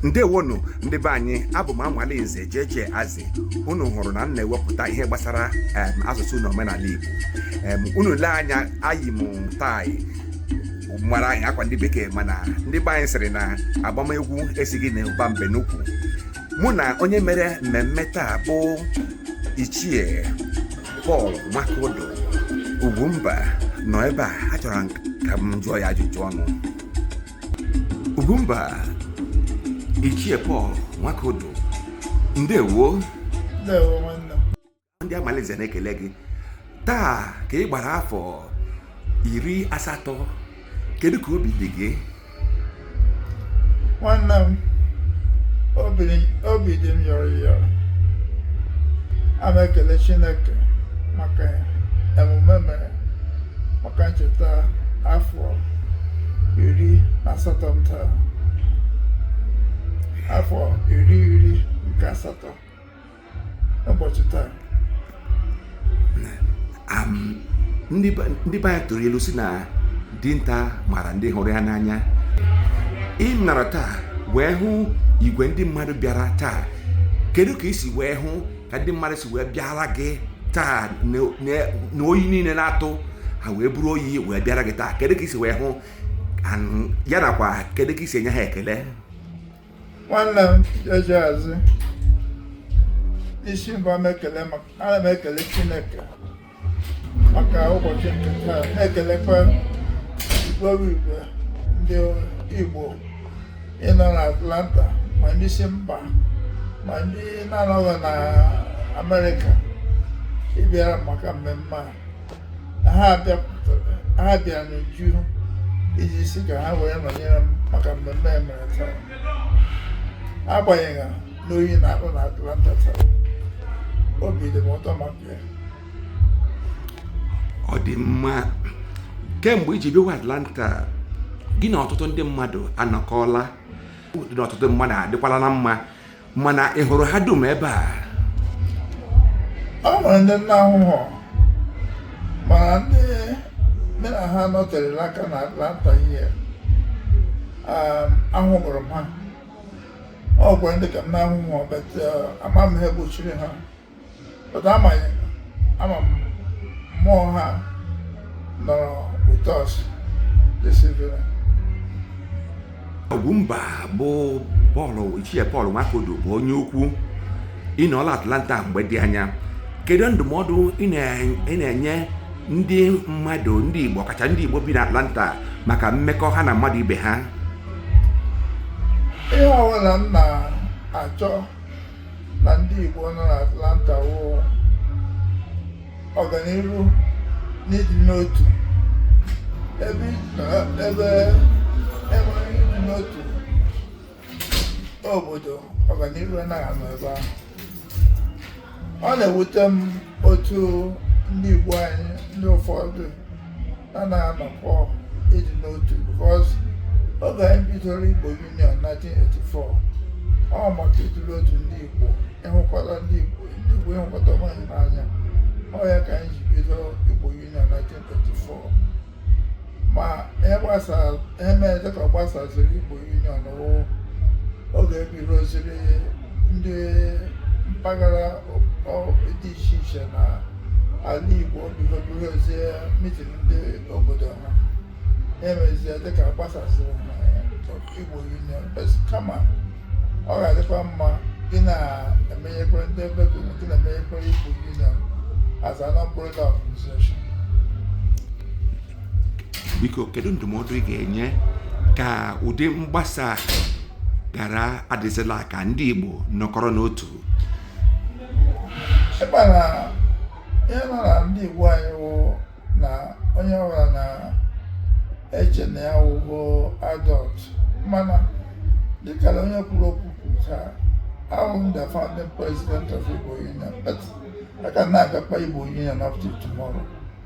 ndewonu ndị be anyị abụ m Amalinze jeje azi unu hụrụ na m na-ewepụta ihe gbasara asụsụ na omenala igbo unu lee anya eyi m tie mara anyị akwa ndị bekee mana ndị be anyị sịrị na agbam egwu esighị na ụba mbe n'ukwu mụ na onye mere mmemme taa bụ ichie Pọl Nwakodo Ugwumba nọ ebe a achọrọ ka m jụọ ya ajụjụ ọnụ Ugwumba Ichie Paul Nwakodo ndewo ndị Amalinze na-ekele gị taa ka ị gbara afọ iri asatọ kedu ka obi dị gị nwanne m obi dị m yọrọ yọrọ ana m ekele Chineke maka emume mere maka ncheta afọ iri na asatọ m taa afọ iri iri nke asatọ ụbọchị taa Am, ndị be ndị be anyị tụrụ ilu sị na dinta mara ndị hụrụ ya n'anya ị nọrọ taa wee hụ igwe ndị mmadụ bịara taa kedu ka i si wee hụ ka ndị mmadụ si wee bịara gị taa na oyi niile na-atụ ha wee buru oyi wee bịara gị taa kedu ka i si wee hụ ya nakwa kedu ka i si enye ha ekele nwanne m eji azụ isi mbụ m ekele maka ana m ekele chineke maka ụbọchị nke taa ana m ekelekwa ọrụ igwe ndị Igbo ịnọ na Atlanta ma ndị si mba ma ndị na-anọghị na Amerịka bịara maka mmemme a ha bịara n'uju iji si ka ha wee nọnyere m maka mmemme emere taa agbanyeghị na oyi na-atụ na Atlanta taa obi dị m ụtọ maka ọ dị mma kemgbe i ji bịawa Atlanta gị na ọtụtụ ndị mmadụ anọkọọla gị na ọtụtụ mmadụ adịkwala na mma mana ị hụrụ ha dum ebe a o nwere ndị m na-ahụhụ mana ndị mụ na ha nọterela aka na Atlanta ihe ahụrụ m ha o nwere ndị nke m na-ahụhụ but ama m ihe gbochiri ha otu ama ama m mmụọ ha nọrọ ụtọ ọsụ desivere Ogwumba bụ Pọl Ichie Pọl Nwakodo bụ onye ukwu ị nọọla Atlanta mgbe dị anya kedu ndụmọdụ ị na-enye ndị mmadụ ndị Igbo ọkacha ndị Igbo bi n'Atlanta maka mmekọ ha na mmadụ ibe ha ihe ọbụla m na-achọ na ndị Igbo nọ n'Atlanta wụ ọganihu n'ịdị n'otu ebe ebe enwerọ ịdị n'otu obodo ọganihu anaghị anọ ebe ahụ ọ na-ewute m otu ndị Igbo anyị ndị ụfọdụ anaghị anọkọ ịdị n'otu because oge anyị bidoro Igbo Union 1984 ọ maka ịdị n'otu ndị Igbo ịhụkọta ndị Igbo ndị Igbo ịhụkọta onwe anyị n'anya ọ ya ka anyị ji bido Igbo Union 1984 ma ihe mere dịka ọ gbasaziri Igbo Union wụ oge e bidoziri ndị mpaghara dị iche iche na ala Igbo bidozie mitin ndị obodo ha e mezie dịka gbasasịrị Igbo Union kama ọ ga-adịkwa mma gị na-emenyekwa ndị ebe gị na-emenyekwa Igbo Union as an umbrella organization biko kedu ndụmọdụ ị ga-enye ka ụdị mgbasa ghara adịzịla ka ndị Igbo nọkọrọ n'otu ị ma na ihe nọ na ndị Igbo anyị wụ na onye ọbụla na-eche na ya wụgo adult mana dịka na onye kwuru okwu kwucha awụ m the founding president of Igbo Union but aka na-akpa Igbo Union up till tomorrow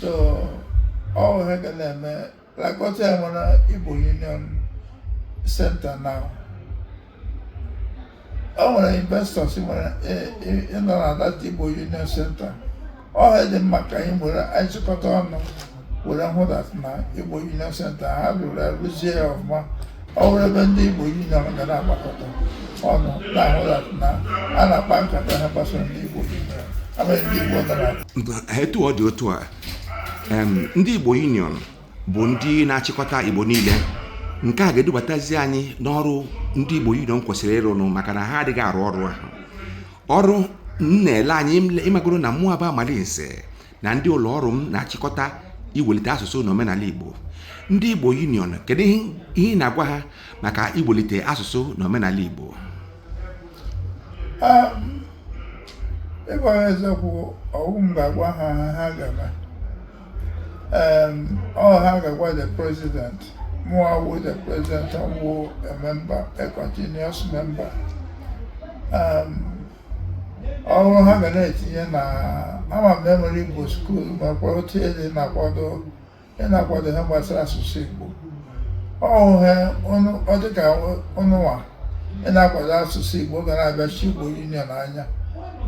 so ọ ihe ga na-eme because e nwere Igbo Union Center na ọ nwere investors nwere e, e, in that Igbo Union Center ọ dị mma ka anyị were anyị chịkọta ọnụ were hụ na Igbo Union Center ha rụrụ arụzie ya ọfụma ọ bụrụ ebe ndị Igbo Union ga na-agbakọta ọnụ na-ahụ na a na-akpa nkata ha gbasara ndị Igbo abụghị ndị Igbo dara etu ọ dị otu a ndị Igbo Union bụ ndị na-achịkọta Igbo niile nke a ga-edubatazi anyị n'ọrụ ndị Igbo Union kwesịrị ịrụnụ maka na ha adịghị arụ ọrụ ahụ ọrụ m na-ele anyị ị magoro na mụa bụ Amalinze na ndị ụlọ ọrụ m na-achịkọta iwelite asụsụ na omenala Igbo ndị Igbo Union kedu ihe ị na-agwa ha maka iwelite asụsụ na omenala Igbo ikwu eziokwu ọ wụ m ga-agwa ha ha gaba ọ ha ga-agwa the president mụwa wụ the president ọ wụ a member a continuous member ọ wụ ha ga na-etinye na ama m e nwere igbo school makwa otu ede na-akwado ndị na-akwado ihe gbasara asụsụ igbo ọ wụ ha ọ dịka ụnụnwa ị na-akwado asụsụ igbo ga na-abịa chi igbo union anya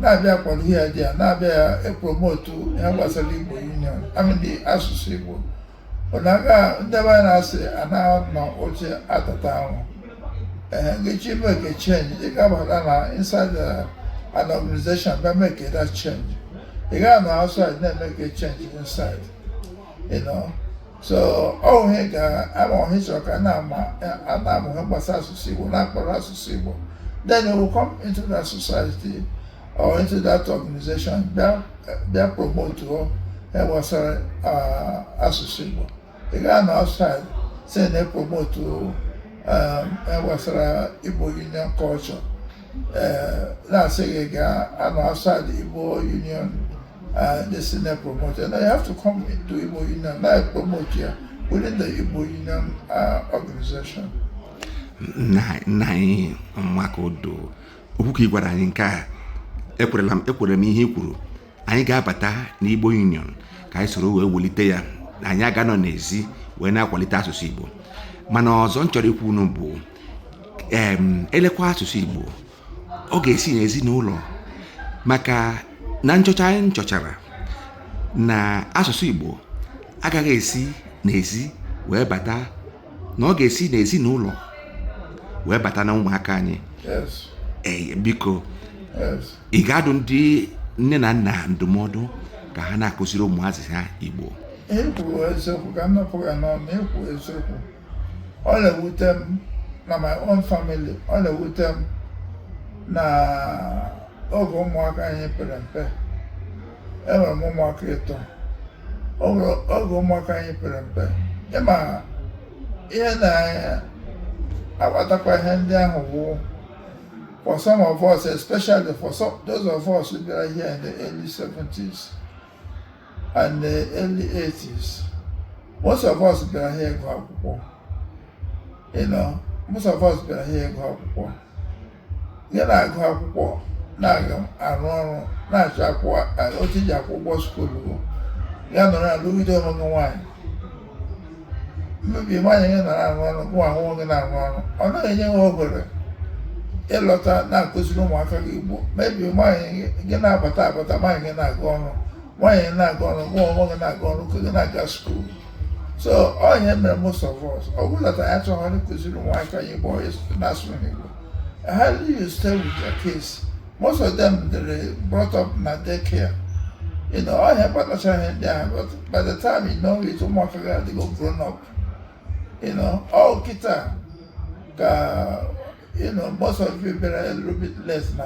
na-abịa kwado ihe ya dị ya na-abịa ya epromotu ihe gbasara igbo union I mean asụsụ igbo You know ndị be na-asị anaghị anọ oche atata ahụ ee ị chọọ imeke change ị ga-abata na inside an organization bịa meke that change ị gaghị anọ outside na-emeke change inside you know so ọ bụ ihe ka ama ọhịa chọrọ ka a na-amụ ihe gbasara asụsụ Igbo na-akpọrọ asụsụ Igbo then you will come into that society or into that organization bịa bịa promote o ihe gbasara uh, asụsụ Igbo ị gaghị anọ outside si na promote um, ihe gbasara Igbo Union culture uh, na-asị ị gaghị anọ outside Igbo Union uh, this na promote and you have to come into Igbo Union na promote ya within the Igbo Union organization. nna anyị maka odo okwu ka ị gwara anyị nke a ekwerela m ekwere m ihe i kwuru anyị ga-abata n'igbo union ka anyị soro wee welite ya anyị agaghị anọ n'ezi wee na-akwalite asụsụ igbo mana ọzọ m chọrọ ikwu unu bụ em elekwa asụsụ igbo ọ ga-esi n'ezinụlọ maka na nchọcha a m chọchara na asụsụ igbo agaghị esi n'ezi wee bata na ọ ga-esi n'ezinụlọ wee bata na ụmụaka anyị ee biko ị ga-adụ ndị nne na nna ndụmọdụ ka ha na-akụziri ụmụazị ha Igbo ikwu eziokwu ka m napụ gị n'ọnụ ikwu eziokwu ọ na-ewute m na my own family ọ na-ewute m na oge ụmụaka anyị pere mpe enwere m ụmụaka ịtọ oge ụmụaka anyị pere mpe ị ma ihe na-akpatakwa ihe ndị ahụ bụ for some of us especially for some, those of us who bịara here in the early 70s and the early 80s most of us bịara here ịgụ akwụkwọ you know most of us bịara here ịgụ akwụkwọ gị na-agụ akwụkwọ na-aga arụ ọrụ na-achọ akwụ otu ị ji akwụ ụgwọ skuulu ya nọrọ alụgide onwe gị nwaanyị maybe nwaanyị gị nọrọ arụ ọrụ gịwa onwe gị na-arụ ọrụ ọ naghị enye ha oghere ịlọta na-akụziri ụmụaka gị igbo maybe nwaanyị gị na-abata abata nwaanyị gị na-aga ọrụ nwaanyị na-aga ọrụ gịwa onwe gị na-aga ọrụ ka gị na-aga skuulu so ọ ya mere most of us ọ bụghị na anyị achọghị ịkụziri ụmụaka anyị bụ onye na-asụrụ n'Igbo ha you stay with your kids most of them they're brought up na daycare you know ọ ya kpatachara ihe ndị ahụ but by the time you know it ụmụaka gị adịgo grown up you know ọ kịta ka you know most of you bere a little bit less na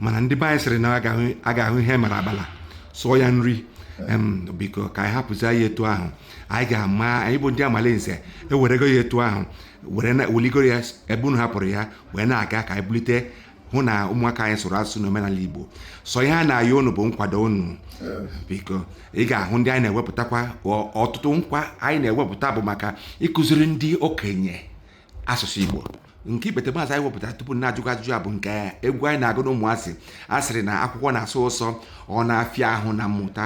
mana ndị be anyị sịrị na a ga-ahụ ihe mara abala sụọ ya nri biko ka anyị hapụzi ya etu ahụ anyị ga-ama anyị bụ ndị amalinze ewerego ya etu ahụ were na wuligoro ya ebe unu hapụrụ ya wee na-aga ka anyị bulite hụ na ụmụaka anyị sụrụ asụsụ na omenala igbo sọ ihe a na-ayọ unu bụ nkwado unu biko ị ga-ahụ ndị anyị na-ewepụtakwa ọtụtụ nkwa anyị na-ewepụta bụ maka ịkụziri ndị okenye asụsụ igbo nke ikpeteazụ anyị wepụtara tupu na a jụọ ajụjụ a bụ nke egwu anyị na-agụ na ụmụazị a sịrị na akwụkwọ na-asọ ụsọ ọ na-afịa ahụ na mmụta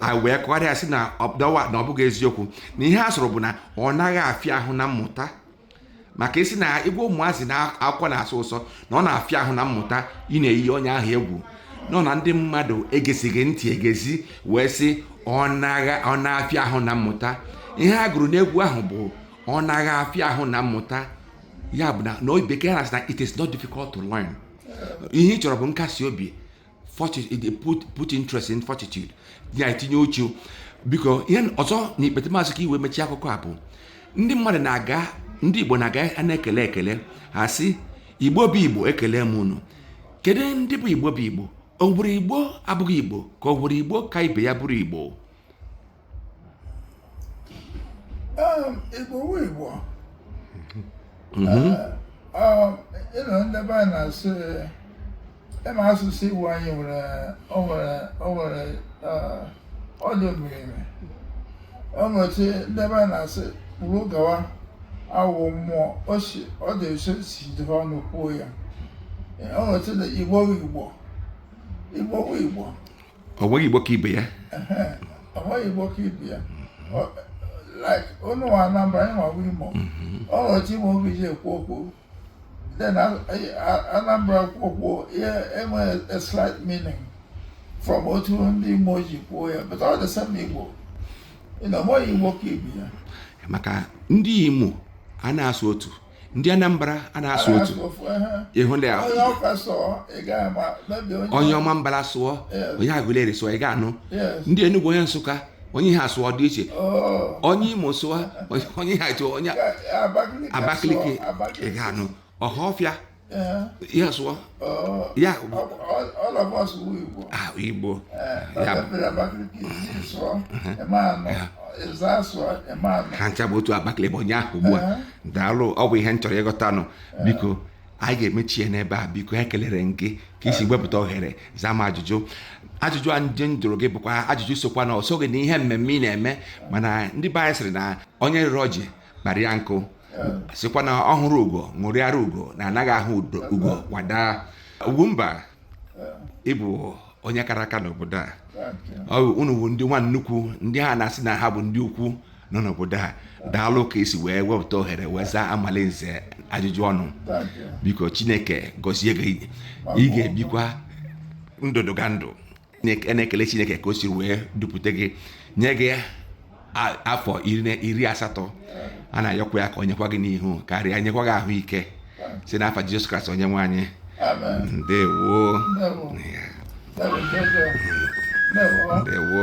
a wee kọgharịa sị na ọdawa na ọ bụghị eziokwu na ihe a sụrụ bụ na ọ naghị afịa ahụ na mmụta maka ị sị na ị gwa ụmụazị na akwụkwọ na-asọ ụsọ na ọ na-afịa ahụ na mmụta ị na-eyi onye ahụ egwu nọ na ndị mmadụ egezighị ntị egezi wee sị ọ na-afịa ahụ na mmụta ihe a gụrụ n'egwu ahụ bụ ọ naghị afịa ahụ na mmụta ya bụ na na bekee na na it is not difficult to learn ihe ị chọrọ bụ nkasi obi put interest in fortitude ya etinye uchu biko ihe ọzọ na ikpeteazụ ka e wee mechie akụkọ a bụ ndị mmadụ na-aga ndị igbo na-aga a na-ekele ekele a sị igbo bụ igbo ekele m unu kedu ndị bụ igbo bụ igbo o nwere igbo abụghị igbo ka o nwere igbo ka ibe ya bụrụ igbo igbo wụ igbo you know ndị be anyị na-asụ ị ma asụsụ igbo anyị nwere o nwere o nwere ọ dị miri emi o nwere otu ndị be anyị na-asụ kwuru gawa awụ mmụọ o si ọ dị nso si dịrị ọnụ kwuo ya o nwere otu na igbo wụ igbo igbo wụ igbo o nweghị igbo ka ibe ya o nweghị igbo ka ibe ya like unu wụ anambra anyịwa wụ imo o nwere otu imo ga-eji ekwu okwu then anambra kwuo okwu ya enwee a slight meaning from otu ndị imo ji kwuo ya but ọ the same igbo you know o nweghị igbo ka ibe ya maka ndị imo a na-asụ otu ndị anambra a na-asụ otu ịhụ ndị ahụ onye ọmambala sụọ onye agụleri sụọ ị ga-anụ ndị enugwu onye nsụka onye ihe asụọ dị iche oh. onye imo sụọ onye ihe atụ onye abakaliki ị ga-anụ ọhafịa Eh. ihe asụwa oh. ya bụ ah, igbo eh, ha ncha bụ otu abakaliki ebonyi ugbu a eh. daalụ ọ bụ ihe m chọrọ ịghọta nụ biko anyị ga-emechi ya n'ebe a biko ekelere m gị ka i si wepụta ohere zaa m ajụjụ ajụjụ a ndị m jụrụ gị bụkwa ajụjụ sokwa na o soghị na ihe mmemme ị na-eme mana ndị be anyị sịrị na onye rịrị ọjị kpara ya nkụ sịkwa na ọ hụrụ ugo ṅụrịara ugo na anaghị ahụ ugo kwa daa ugwumba ị bụ onye kara aka n'obodo a ọ bụ unu bụ ndị nwa nnukwu ndị ha na-asị na ha bụ ndị ukwu nọ n'obodo a daalụ ka i si wee wepụta ohere wee zaa amalinze ajụjụ ọnụ biko chineke gọzie gị ị ga-ebikwa ndụdụgandụ na-ekele chineke ka o si wee dupụta gị nye gị afọ iri asatọ a na-ayọkwa ya ka o nyekwa gị n'ihu karịa nyekwa gị ahụike si n'afa jizọs kraịst onye nwe anyị ndewo ndewo